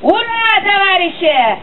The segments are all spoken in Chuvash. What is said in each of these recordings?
Ура, товарищи!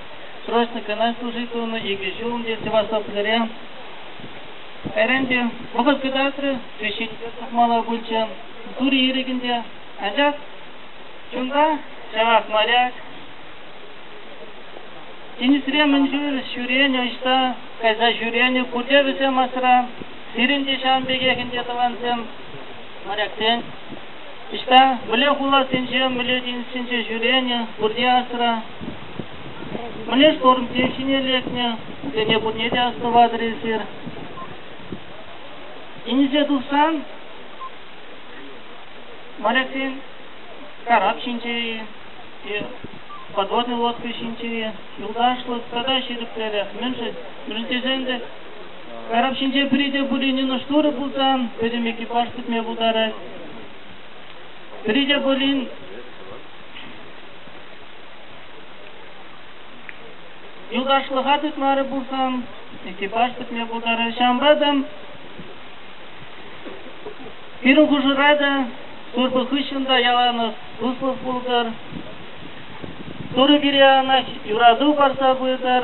праздникӑна служить тунӑ икӗ ҫул ӗнтӗ Севастополӗре. Кайран те вӑхӑт кӑтартрӗ, священнике тухмалла пулчӗ. Тури ирӗкӗнче, анчах чунта ҫавах моряк. Тинӗсре мӗн чуль ҫӳренӗ ӑҫта кайса ҫӳренӗ пурте вӗсем асра. Сирӗн те ҫавӑн пекех ӗнтӗ тӑвансем, моряксен. Ӑҫта, мӗнле хуласенче, мӗнле тинӗссенче ҫӳренӗ, пурте асра. Мӗнле штормсем ҫине лекнӗ, вӗсене пурне те астӑватӑр эсир. Ӗнсе тухсан, моряксен карап ҫинче-и, подводный лодка ҫинче юлташлӑх тата ҫирӗпререх. Мӗншӗн? Мӗншӗн тесен те Карап ҫинче пӗри те пулинин шурӑ пулсан пӗтӗм экипаж пӗтме пултарать. Пӗри те пулин юлташлӑха тытмарӗ пулсан экипаж пӗтме пултарать. Ҫавӑнпа та пирӗн хушӑра та турпа хыҫҫӑн та яланах туслӑх пултӑр. Турӑ пире анах юрату парса пытӑр.